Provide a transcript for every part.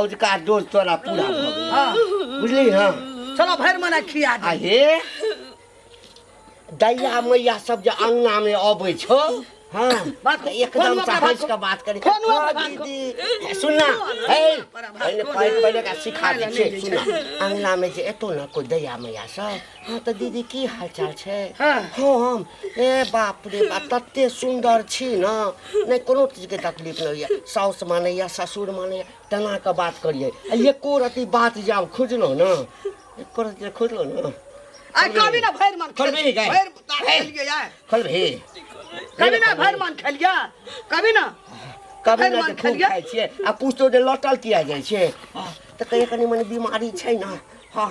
औजका dose तोरा पूरा भऽ गेल हाँ बुझली हँ चलो भर मना खिया दे आ हे दैया मैया सब जे अंगना में अबै छौ हाँ बात तऽ एकदम फोन से ओकरा हँस बात- के बात करी फोन ओकरा हाँ, बात- दीदी सुनना हे पहिले पहिले का सिखा दै छियै सुनना अंगना में जे एतौ ने कोई दैया मैया सब हाँ तऽ दीदी की हालचाल छै हाँ। हम ए बाप रे बा तते सुन्दर छी ने नहि कोनो चीजके तकलीफ नहि होइए साउस मानैए ससुर मानैए तेना कऽ बात करियै आ एको रति बात जे आब खुजलहुँ ने एको रति जे खुजलहुँ ने आ कभी ना भैर मन खोलबे नहीं गए। भैर तार भैर। खेलिए यार खोलबही कभी ना भैर मन खेलिए कभी ना कभी भरि ना मन जे खूब खेलियै। खाइ छियै आ पूछतो जे लौटल किया जाइ छै हाँ, तऽ कहिया कनि मनि बीमारी छै ने हाँ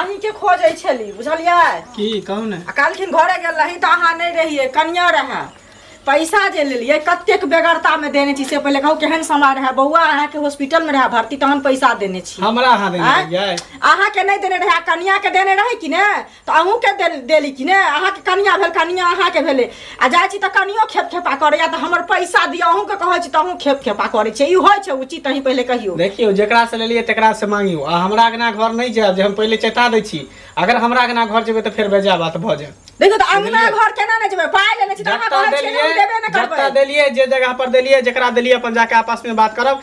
अहींके खोजै छली बुझलियै की कहू ने आ काल्हिखिन घरे गेल रही तऽ अहाँ नहि रहियै कनिया रहए पैसा जे लेलियै कतेक बेगरतामे देने छी से पहिले कहू केहन समय रहए बौआ अहाँके हॉस्पिटलमे रहए भर्ती तहन पैसा देने छी हमरा अहाँ देने आँय? रहियै अहाँके नहि देने रहए आ कनियाके देने रहै कि ने तऽ अहूँके देल देली कि नहि अहाँके कनिया भेल कनिया अहाँके भेलै आ जाइ छी तऽ कनियो खेप खेपा करैया तऽ हमर पैसा दिअ अहूँके कहै छी तऽ अहूँ खेप खेपा करै छै ई होइ छै उचित अहीं पहिले कहियौ देखियौ जेकरा से लेलियै तेकरा से मांगियो आ हमरा अगना घर नहीं जायब जे हम पहिले चेता दै छी अगर हमरा अगना घर जेबै तऽ फेर बेजा बात भऽ जायत देखियौ तऽ अंगना घर केना नहि जेबै पाइ लेने छी तऽ अहाँ जतऽ कहै छियै जे हम देलियै देबे नहि जतऽ करबै देलियै जे जगह पर देलियै जेकरा देलियै अपन जाके आपस में बात करब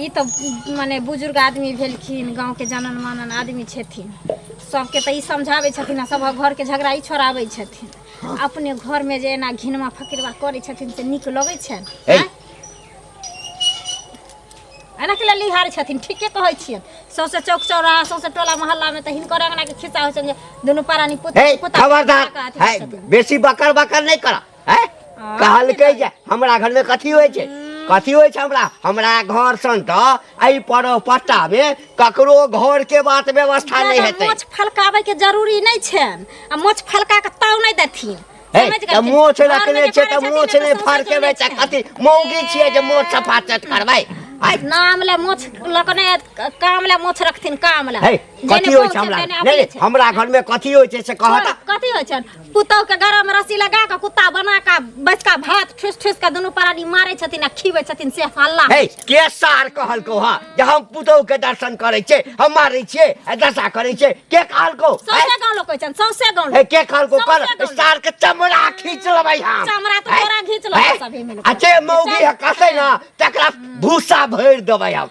ई तऽ मने बुजुर्ग आदमी भेलखिन गाँवके जानन मानन आदमी छथिन सभके तऽ ई समझाबै छथिन आ सभक घरके झगड़ा ई छोड़ाबै छथिन हँ। अपने घरमे जे एना घिनमा फकिरवा करै छथिन से नीक लगै छनि है। आँय? एना के लेल हार छथिन ठीके कहै छियै सौसे चौक चौराहा सौसे टोला मोहल्लामे तऽ हिनकर अङ्गनाके खिस्सा होइ छनि जे दुनू परानी पुत है पुता खबरदार अथी है छथिन। बेसी बकर बकर नहीं करा हैं? कहलकै जे हमरा घरमे कथी होइ छै कथी होइ छै हमरा हमरा घर सन तऽ एहि पर्व पट्टामे ककरो घरके बात व्यवस्था नहि जादा हेतै मोछ फलकाबै के जरूरी नहि छनि आ मोछ फलका के ताव नहि देथिन हे, समझ तऽ गेलखिन? मोछ घरमे रखने जे छै करै तऽ छथिन मोछ ने नहि तऽ फड़ के सौंसे बेच चलै कथी मौगी छियै जे मोछ सफा चट करबै आइ नाम ले मोछ लकने काम ले मोछ रखथिन काम ले हे जेने कथी होइ छै पहुँचतै हमरा ने नहि अपने नहि, छै। हमरा घरमे कथी होइ छै से कहत कथी होइ छनि पुतहु के गरह में रस्सी लगा के कुत्ता बना के बचका भात ठुस ठुस के दुनू परानी मारे छथिन आ खीवे छथिन से हल्ला हे के सार कहलको हा जे हम पुतहु के दर्शन करे छे हम मारे छे आ दशा करे छे के कहलको हैं? सौसे गाँव लोग कहै छन सौसे गाँव हे लोग के कहलको कर समझे कौन? सार के चमड़ा खींच लेबै हम चमड़ा तो हैं? तोरा घींच लेबै हैं? सभी मिलके। आ जे मौगी है कसै ना तकरा भूसा भरि देबै हम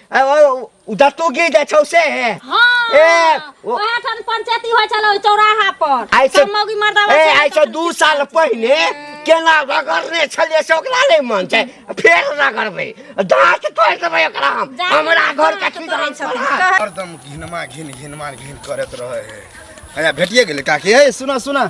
दत्तू की जाइ छौ से ए ओहे ठन पंचायती होइ छलो चौराहा पर आइ से मौगी मर्दावा ए आइ से दू साल पहिले केना रगड़ने छलिए से ओकरा नहीं मन छै फेर रगड़बै दांत तोड़ देबै ओकरा हम हमरा घर का की दांत हरदम घिनमा घिन घिनमा घिन करत रहे है अरे भेटिए गेलै काकी ए सुना सुना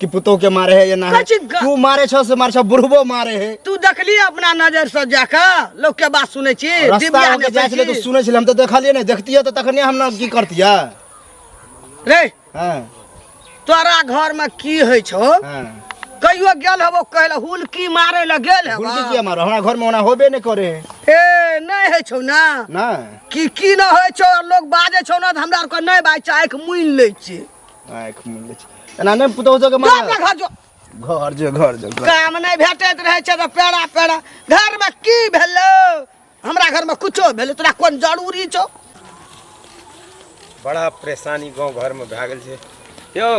कि पुतोह के मारे है ये ना है कथी ग- तू मारे छो से मारे छो बुढ़बो मारे है तू देखली अपना नजर से जाके लोग के बात सुनै छी रास्ता दिव्या होके जाइ छले देखै तऽ छी। सुनै छले हम तऽ देखलिए ने देखतिए तऽ तखने हम ना की करतिए रे हाँ तोरा घर में की होइ छौ हाँ कहियो गेल हबो कहले हुलकी मारे ले गेल हबो हुलकी किया मारो हमरा घर में ओना होबे नहीं करे है ए नहीं होइ छौ ना ना की की न होइ छौ लोग बाजै छौ ना तऽ हमरा आर के नहि बाजै छै आँखि मुनि लै छै आँख मुनले छै एना नहि पुतौ तो के मार घर जो घर जो घर जो काम नहीं भेटैत रहै छै त पेड़ा पेड़ा घर में की भेलो हमरा घर में कुछो भेलो तोरा कोन जरूरी छौ बड़ा परेशानी गांव घर में भए गेल छै यौ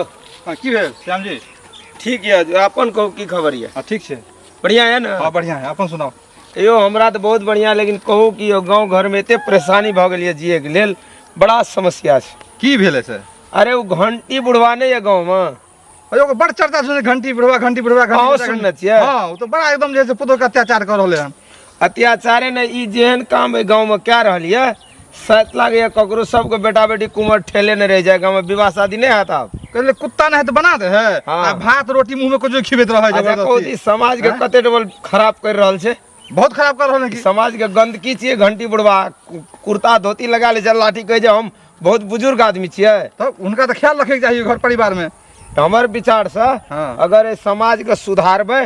हाँ की भेल श्याम जी ठीक यऽ अपन कहू की खबर यऽ हाँ ठीक छै बढ़िया यऽ ने हाँ बढ़िया है अपन सुनाओ यो हमरा तो बहुत बढ़िया लेकिन कहू कि यो गांव घर में एते परेशानी भ गेल ये जिए के लेल बड़ा समस्या छै की भेलै से अरे वो घंटी बुढ़वा नहीं है गांव में अरे ओकर बड़ चर्चा सुनै घंटी बुढ़वा घंटी बुढ़वा घंटी अहूँ बुढ़वा, घंटी- सुनने छियै? हाँ ओ तो बड़ा एकदम जे है से पुतोह के अत्याचार कर रहले हन अत्याचारे ने ई जेहन काम ए गांव में कह रहल ये सैत लागैया ककरो सबके बेटा बेटी कुमर ठेले ने रह जाए गाँव विवाह शादी नहीं है तब कहले कुत्ता नहीं तो बना दे है हाँ। आ भात रोटी मुंह में कुछ खिबेत रहे अच्छा कहू जबरदस्ती ई समाज के कते डबल खराब कर रहल छै बहुत खराब कर रहल है कि समाज के गंदगी छियै घंटी बुढ़वा कु- कुर्ता धोती लगा ले छै लाठी कहै छै हम बहुत बुजुर्ग आदमी छियै तब उनका तो ख्याल रखे के चाहिए घर परिवार में तऽ हमर विचार से हाँ। अगर एहि समाज के सुधारबै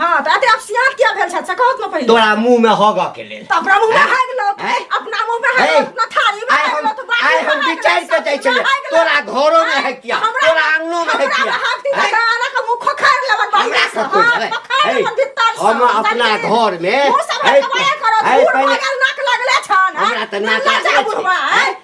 हां त अते आप सियात किया भेल छ से कहत न पहिले तोरा मुंह में होगा के लेल त अपना मुंह में हाग लो अपना मुंह में हाग अपना थाली में हाग लो तो बात आय हम विचार के जाय छले तोरा घरो में है किया तोरा आंगनो में है किया हमरा का मुंह खोखार लेवन बढ़िया से हम अपना घर में है पहिले नाक लगले छन हमरा त नाक लगले छन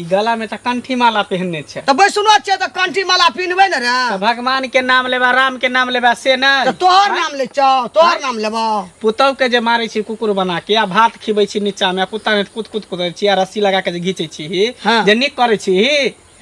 ई गला में त कंठी माला पहनने छै त बैसनो छै त कंठी माला पिनबे न रे त भगवान के नाम लेबा राम के नाम लेबा से न त तोहर नाम ले छौ तोहर नाम लेबा पुतौ के जे मारै छी कुकुर बना के आ भात खिबै छी नीचा में पुता ने कुत कुत कुदै छी आ रस्सी लगा के जे घीचै छी हाँ। जे निक करै छी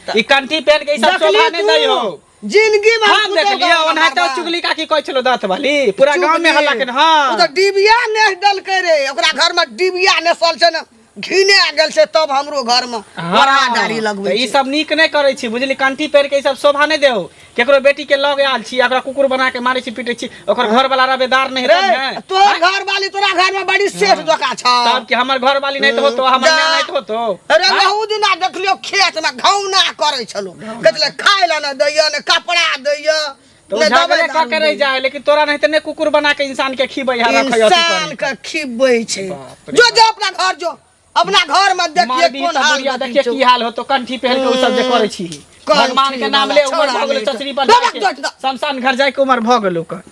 ई कंठी पहन के ई सब देखली शोभा नै तू? दै हो जिंदगी में हम देख लिया ओना तो चुगली का की कहै छलो दांत वाली पूरा गांव में हल्ला केन हां ओ तो डिबिया ने डल के रे ओकरा घर में डिबिया ने सल छै ना घिने आ गेल छै तब हमरो घर में बड़ा डारी लगबै ई सब नीक नै करै छी बुझली कंठी पेड़ के ई सब शोभा नै देउ केकरो बेटी के लग आल छी एकरा कुकुर बना के मारै छी पीटै छी ओकर घर वाला रबेदार नहीं रे तब है तोर हाँ? घर वाली तोरा घर में बड़ी सेठ जोका छ तब कि हमर घर वाली नहीं तो होतो हमर जा। माय नहीं तो होतो अरे हाँ? रहू दिना देखलियो खेत में घौना करै छलो कहले खाय ला न दैय ने कपड़ा दैय तो ने दवाई झगड़े का दारू करे दैय। जाए लेकिन तोरा नहीं तो ने कुकुर बना के इंसान के खीबै है रखै अथी इंसान करै। के खिबै छै बाप रे जो जो अपना घर जो अपना घर में देखिए मारबी कोन तऽ हाल बुढ़िया देखिए देखिए की हाल होतो कंठी पहन के ओ सब जे करै छी कंठी भगवान के नाम ले वाला उमर छौड़ा भऽ गेलो नहि। चचरी पर दबक जाके दबक दबक। शमशान घर जाए के उमर भऽ गेलो ओकर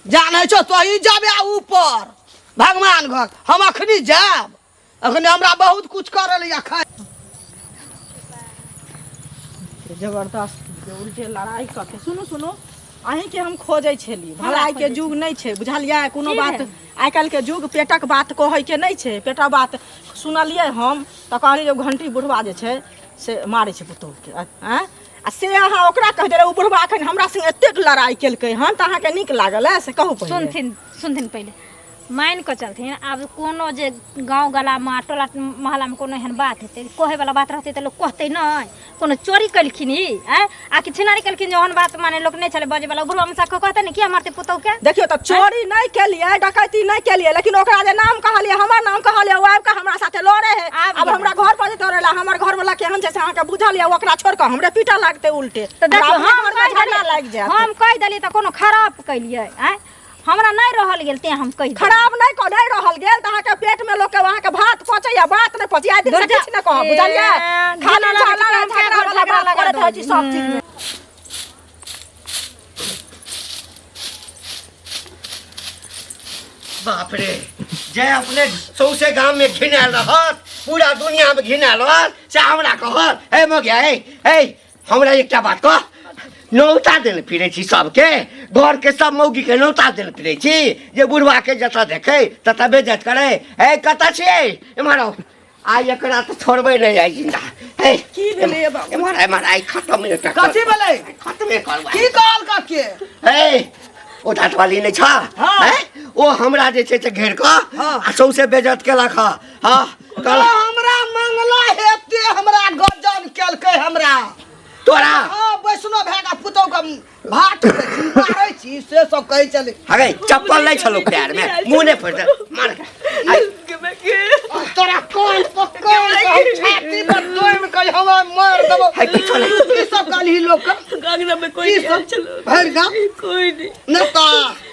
जानै छौ तोही जाबे ऊपर भगवान घर हम अखनी जाब अखने हमरा बहुत कुछ करल या खाय जबरदस्त उल्टे लड़ाई कऽ के सुनू सुनू अहींके हम खोजै छेली भलाई के युग नहि छै बुझलियै कोनो बात आइ काल्हिके युग पेटक बात कहैके नहि छै पेटक बात सुनलियै हम तऽ कहलियै जे घंटी बुढ़वा जे छै से मारै छै पुतहुके आँय आ से अहाँ ओकरा कहि देलहुँ ओ बुढ़वा एखन हमरा संगे एतेक लड़ाइ केलकै हन तऽ अहाँके नीक लागल है से कहू पहिले सुनथिन सुनथिन पहिले मानि कऽ चलथिन आब कोनो जे गाँव गलामे टोला महल्लामे कोनो एहन बात हेतै कहैवला बात रहतै तऽ लोक कहतै नहि कोनो चोरी कलखिन ई आँय? आ कि छिनारी कलखिन जे ओहन बात माने लोक नहि छलै बजे वाला गुरु हमसा को कहते ने कि हमर ते पुतौ के देखियो तऽ चोरी नहि केलियै डकैती नहि केलियै लेकिन ओकरा जे नाम कहलियै हमर नाम कहलियै ओ आबि कऽ हमरा साथे लड़े है आब आब गेलै। हमरा घर पर जे तोड़े ला हमर घर वाला केहन छै से अहाँके बुझल यऽ ओकरा छोड़ कऽ हमरे पीटा लागतै उल्टे तऽ देखियो हमरा हम अपने कहि घरमे झगड़ा लागि देलियै जायत हम कहि देलियै तऽ कोनो खराब कइलियै आँय हमरा नहीं रहल गेल ते हम कहि खराब नहीं को नहीं रहल गेल त अहाँ के पेट में लोग के वहां के भात पचे या बात नहीं पचे आइ दिन से किछ न कह बुझलिए खाना झाला ना झगड़ा वाला बात करत है जी सब चीज में बाप रे जय अपने सौसे गांव में घिनाल रहत पूरा दुनिया में घिनाल रहत से हमरा कहत ए मो गया ए ए हमरा एकटा बात कह नौता देने फिरै छी सबके घरके सब मौगीके नौता देने फिरै छी जे बुढ़वाके जतऽ देखै ततऽ बेजत करै हे कतऽ छियै एम्हर आउ आइ एकरा तऽ छोड़बै नहि आइ जिन्दा हे की भेलै ए बाबू? एम्हर एम्हर आइ खतम एकटा कर- कथी भेलै खतमे करबै की कहल कके हे ओ दाँतवाली नहि छ हाँ। हैं? ओ हमरा जे छै से घेर कऽ हाँ। आ सौंसे बेजत केलक हँ हाँ कल हमरा मंगला हेते हमरा गजन केलकै हमरा तोरा हाँ वैष्णो भए का पुतौ के भात मारै छी से सब कहै छलै हगे चप्पल नहीं छलो पैर में मुंह नहीं फट मार तोरा कान पकड़ हम छाती पर दोम के हम मार देबो है किछो नहीं ई सब गाली लोक गागना में कोई ई सब भरि गाम कोई नहीं नेता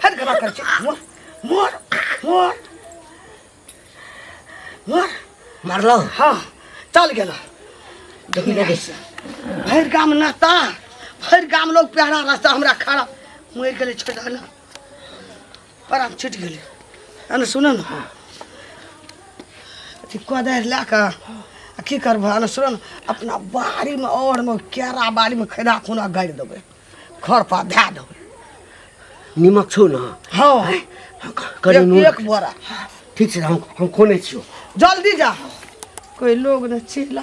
फट गला कर मोर मोर मोर मोर मारलो हाँ चल गया देखी लगे से भर गाम नहता भर गाम लोग प्यारा रास्ता हमरा खड़ा मर गए छोड़ा ना परान छुटि गेलै अने सुन ने अथी कोदारि लए कऽ आ की करबह अने सुन ने अपना बाड़ीमे औरमे केरा बाड़ीमे खैरा खुना गाड़ि देबै खर पर धए देबै निमक छौ ने हँ कनी एक- नून एक बोरा ठीक छै हम हम खोने छियौ जल्दी जा कोई लोग ने चिल्ला